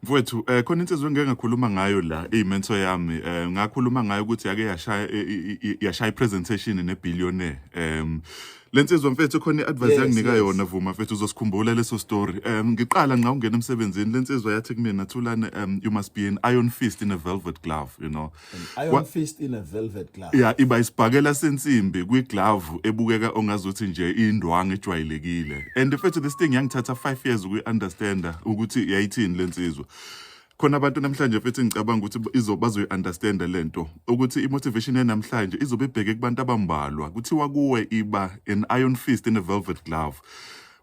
mfowethu um khona insizwa engike ngakhuluma ngayo la iyimento yami um ngakhuluma ngayo ukuthi yake yashaya yashaya i-presentation ne-billionaire um le nsizwa mfethu khona i-advice yes, yanginika yes. yona vuma mfethu uzosikhumbula leso story um ngiqala nxa ungena emsebenzini le nsizwa yathi kumina thulane um you must be an iron fist in a velvet glove you know Iron fist in a velvet glove. Yeah, iba isibhakela sensimbi kwi glove ebukeka ongazuthi nje indwangu ejwayelekile. And if this thing yangithatha 5 years uku understand ukuthi yayithini lensizwa. khona abantu namhlanje futhi ngicabanga ukuthi izobazoyi-understanda le nto ukuthi i-motivation yanamhlanje izobe ibheke kubantu abambalwa kuthiwa kuwe iba an iron fist in a velvet glove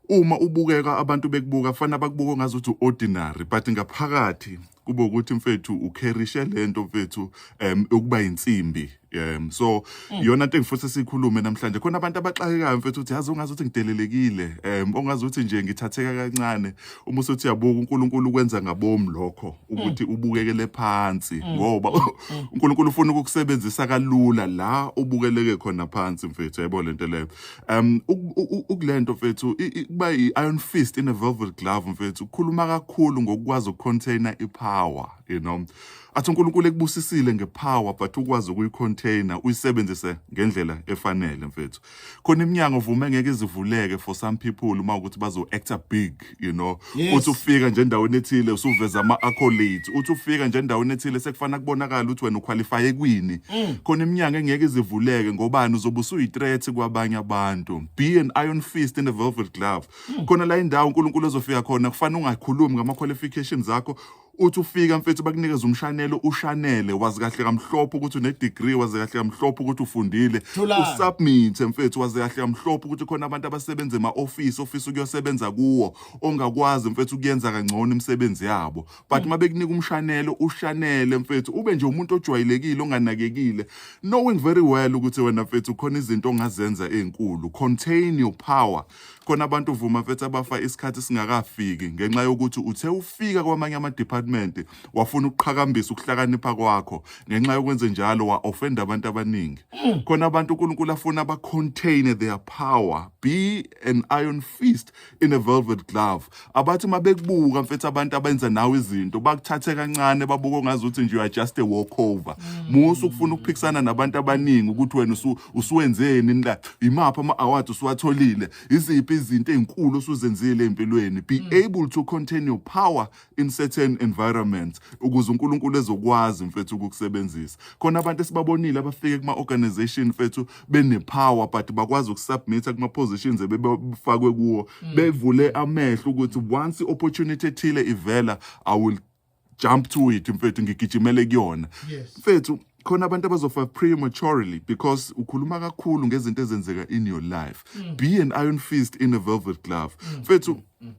uma ubukeka abantu bekubuka fana bakubuka ngazuthi u-ordinary but ngaphakathi kube ukuthi mfethu ukherishe lento mfethu um ukuba insimbi um so mm. iyona into engifuse sikhulume namhlanje khona abantu abaxakekayo mfethu uthi yazi ungazi ukuthi ngidelelekile um ongazi ukuthi nje ngithatheka kancane uma usuthi uyabuka uNkulunkulu ukwenza ngabomu lokho ukuthi mm. ubukekele phansi mm. ngoba uNkulunkulu ufuna ukukusebenzisa kalula la ubukeleke khona phansi mfethu yebo lento leyo um ukule nto mfethu kuba i-iron fist in a velvet glove mfethu ukhuluma kakhulu ngokukwazi ukucontaina ipower you know athi unkulunkulu ekubusisile ngepower but ukwazi ukuyicontaina uyisebenzise ngendlela efanele mfethu khona iminyango vume ngeke izivuleke for some people uma ukuthi bazo-acta big you know Yes. uthi ufika nje endaweni ethile usuveza ama-accolades uthi ufika nje endaweni ethile sekufanele kubonakala ukuthi wena ukhwalifaye kwini Mm. khona iminyango engeke izivuleke ngobani uzobe usuyithreat kwabanye abantu be an iron fist in a velvet glove Mm. khona la indawo unkulunkulu ezofika khona kufanele ungakhulumi ngama-qualifications akho uthi ufika mfethu bakunikeza umshanelo ushanele wazi kahle kamhlophe ukuthi une degree wazi kahle kamhlophe ukuthi ufundile Thulani. usubmit mfethu wazi kahle kamhlophe ukuthi khona abantu abasebenza ema office office ukuyosebenza kuwo ongakwazi mfethu ukuyenza kangcono imisebenzi yabo but uma bekunika umshanelo ushanele mfethu ube nje umuntu ojwayelekile onganakekile knowing very well ukuthi wena mfethu khona izinto ongazenza ezinkulu contain your power khona abantu uvuma mfethu abafa isikhathi singakafiki ngenxa yokuthi uthe ufika kwamanye ama-department wafuna ukuqhakambisa ukuhlakanipha kwakho ngenxa yokwenze njalo wa-ofenda abantu abaningi mm. khona abantu unkulunkulu afuna ba-contain their power be an iron fist in a velvet glove abathi uma bekubuka mfethu abantu abenza nawe izinto bakuthathe kancane babuke ongazi ukuthi nje you are just a walkover musa ukufuna ukuphikisana nabantu abaningi ukuthi wena usu- usuwenzeni la imaphi ama-award usuwatholile iziphi izinto ey'nkulu osuzenzile empilweni be able to contain your power in certain environments ukuze unkulunkulu ezokwazi mfethu ukukusebenzisa khona abantu esibabonile abafike kuma-organization mfethu benepower but bakwazi ukusubmita kuma positions ebebefakwe kuwo mm. bevule amehlo ukuthi once opportunity ethile ivela i will jump to it mfethu ngigijimele kuyona mfethu yes. khona abantu abazofa prematurely because ukhuluma kakhulu ngezinto ezenzeka in your life mm. be an iron fist in a velvet glove mm. mfethu mm. mm.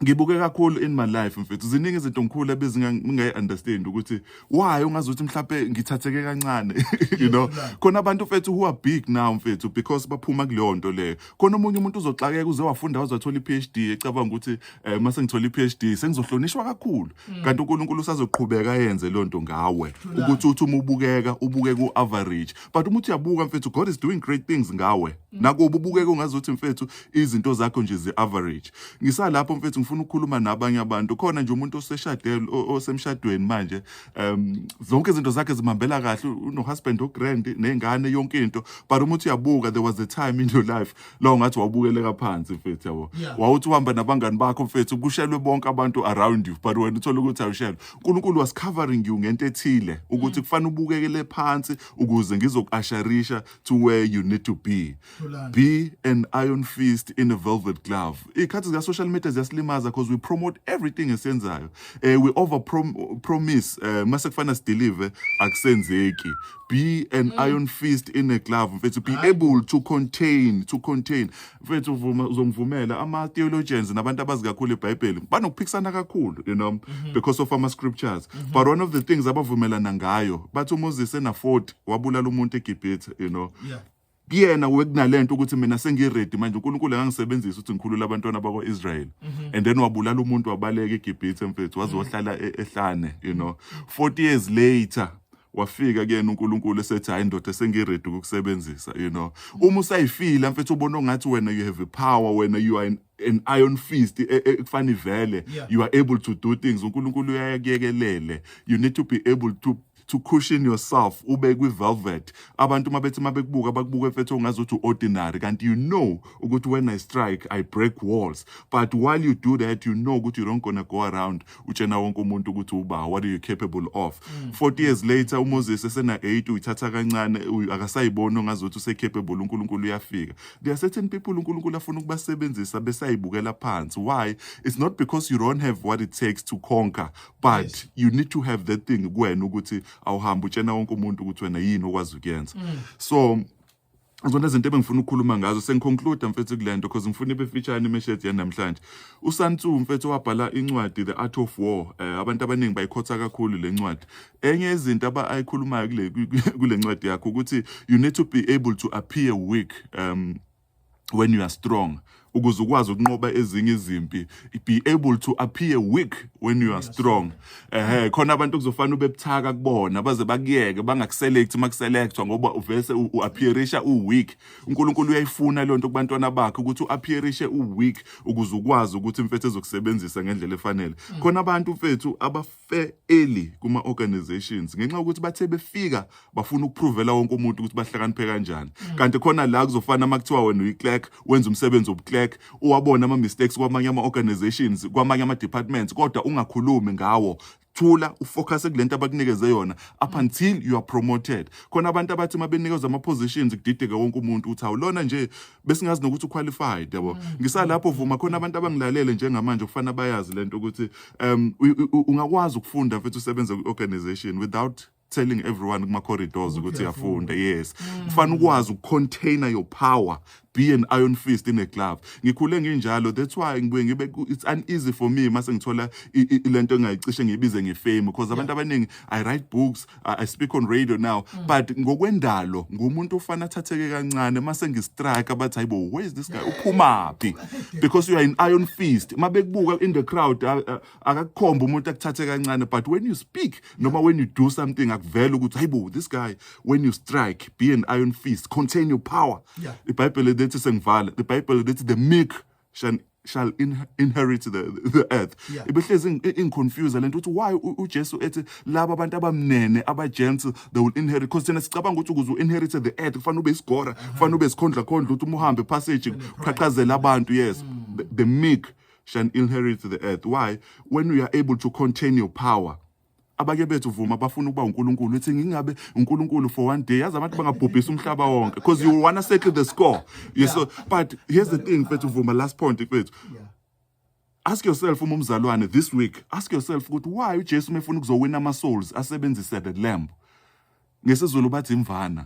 ngibuke kakhulu in my life mfethu ziningi izinto ngikhulu ebezingayi-understand ukuthi why ungazi ukuthi mhlawumbe ngithatheke kancane you know khona abantu mfethu who are big now mfethu because baphuma kuleyo nto leyo khona omunye umuntu uzoxakeka uze wafunda waze wathola i-ph d ecabanga ukuthi um eh, uma sengithola i-ph d sengizohlonishwa kakhulu mm. kanti unkulunkulu usazoqhubeka yenze loo nto ngawe ukuthi uthi uma ubukeka ubuke ku-average but uma uthi uyabuka mfethu god is doing great things ngawe mm. nakuba ubukeke ungazuthi mfethu izinto zakho nje zi-average ngisalapho mfethu ngifuna ukukhuluma nabanye abantu khona nje umuntu oseshadele osemshadweni manje um zonke izinto zakhe zimhambela kahle unohusband ogrand nengane yonke into but uma uthi uyabuka there was a time in your life lo ngathi wawubukeleka phansi mfethu yabo Yeah. wawuthi uhamba nabangani bakho mfethu kushelwe bonke abantu around you but wena uthole ukuthi awushelwe unkulunkulu was covering you ngento ethile ukuthi Mm. kufanele ubukekele phansi ukuze ngizokuasharisha to where you need to be Thulani. be an iron fist in a velvet glove iy'khathi zika-social media ziyasilimaza because we promote everything esiyenzayo um we over promise um mase kufana sidelive akusenzeki be an mm. iron fist in a glove mfethu be able to contain to contain mfethu vuma uzongivumela ama theologians nabantu abazi kakhulu iBhayibheli banokuphikisana kakhulu you know mm -hmm. because of ama scriptures mm -hmm. but one of the things abavumelana ngayo bathi uMoses ena 40 wabulala umuntu eGibhithe you know yeah. kuyena wekunalento ukuthi mina sengiready manje uNkulunkulu angangisebenzisa ukuthi ngikhulule abantwana bakwa-Israel mhm. and then wabulala umuntu wabaleka eGibhithe mfethu waze mhm. wahlala e-, ehlane you know 40 years later wafika kuyena uNkulunkulu esethi hayi ndoda sengiready ukukusebenzisa you know uma usayifila mfethu ubona ngathi wena you have a power wena you are an, an iron fist e, e, ekufana ivele yeah. you are able to do things uNkulunkulu uyayekelele you need to be able to to cushion yourself ube kwi-velvet abantu uma bethi uma bekubuka bakubuka efethu ongazi ukuthi u-ordinary kanti you know ukuthi when i strike i break walls but while you do that you know ukuthi you don't gonna go around utshena wonke umuntu ukuthi uba what are you capable of 40 mm. years later umoses esena-8 uyithatha kancane akasayiboni ongazi ukuthi use-capable unkulunkulu uyafika there are certain people unkulunkulu afuna ukubasebenzisa besayibukela phansi why it's not because you don't have what it takes to conquer but yes. you need to have that thing kuwena ukuthi awuhambe utshena wonke umuntu ukuthi wena yini okwazi ukuyenza mm. so zona izinto ebengifuna ukukhuluma ngazo sengiconclude mfethu kule nto because ngifuna ibe featureni imeshedi yanamhlanje usantsu mfethu wabhala incwadi the art of war um eh, abantu abaningi bayikhotha kakhulu le ncwadi enye izinto abayikhulumayo kule ncwadi yakho ukuthi you need to be able to appear weak um when you are strong ukuze ukwazi ukunqoba ezinye izimpi be able to appear weak when you are strong eh khona abantu kuzofanele ubebuthaka kubona baze bakuyeke bangakuselect uma kuselectwa ngoba uvese uappearisha uweak uNkulunkulu uyayifuna le nto kubantwana bakhe ukuthi uappearishe uweak ukuze ukwazi ukuthi mfethu ezokusebenzisa ngendlela efanele khona abantu mfethu aba bafe early kuma organizations ngenxa yokuthi bathe befika bafuna ukupruvela wonke umuntu ukuthi bahlakaniphe kanjani mm. kanti khona la kuzofana uma kuthiwa wena uyiclerk wenza umsebenzi wobuclerk uwabona ama mistakes kwamanye ama organizations kwamanye ama departments kodwa ungakhulumi ngawo thula ufocus kulento abakunikeze yona up mm. until you are promoted khona abantu abathi mabenikezwa ama positions kudideke wonke umuntu uthi awulona nje besingazi nokuthi uqualified yabo mm. ngisalapho vuma khona abantu abangilalele njengamanje kufana bayazi lento ukuthi um ungakwazi ukufunda futhi usebenze kwi-organization without telling everyone kuma corridors ukuthi yafunda yes mm. kufana ukwazi ukucontainer your power be an iron fist in a glove ngikhule nginjalo that's why ngibuye ngibe it's uneasy for me mase ngithola lento engayicishe ngibize ngefame because abantu abaningi i write books I, I speak on radio now mm. but ngokwendalo ngumuntu ofana athatheke kancane mase ngistrike abathi hayibo where is this guy uphumaphi because you are in iron fist uma bekubuka in the crowd akakukhomba umuntu akuthathe kancane but when you speak noma when you do something akuvela ukuthi hayibo this guy when you strike be an iron fist contain your power yeah. ibhayibheli lithi sengivala ibhayibheli lithi the meek shall, shall in, inherit the, the earth Yeah. ibehlezi ing- ingiconfuse lento ukuthi why u- ujesu ethi laba abantu abamnene abagents they will inherit because thina sicabanga ukuthi ukuze u-inherit the earth kufanele ube isigora kufanele ube isikhondlakhondla ukuthi uma uhambe passage qhaqhazela abantu yes the, the meek shall inherit the earth why when you are able to contain your power abanye bethu vuma bafuna ukuba uNkulunkulu uthi ngingabe uNkulunkulu for one day yazi abantu bangabhubhisa umhlaba wonke because you wanna settle the score you yeah. so but here's the thing mfethu vuma last point mfethu yeah. ask yourself uma umzalwane this week ask yourself ukuthi why uJesu mefuna ukuzowina ama souls asebenzise the lamb ngesizulu bathi imvana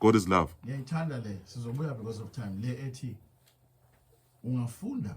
God is love. Ngiyayithanda le sizobuya because of time le ethi ungafunda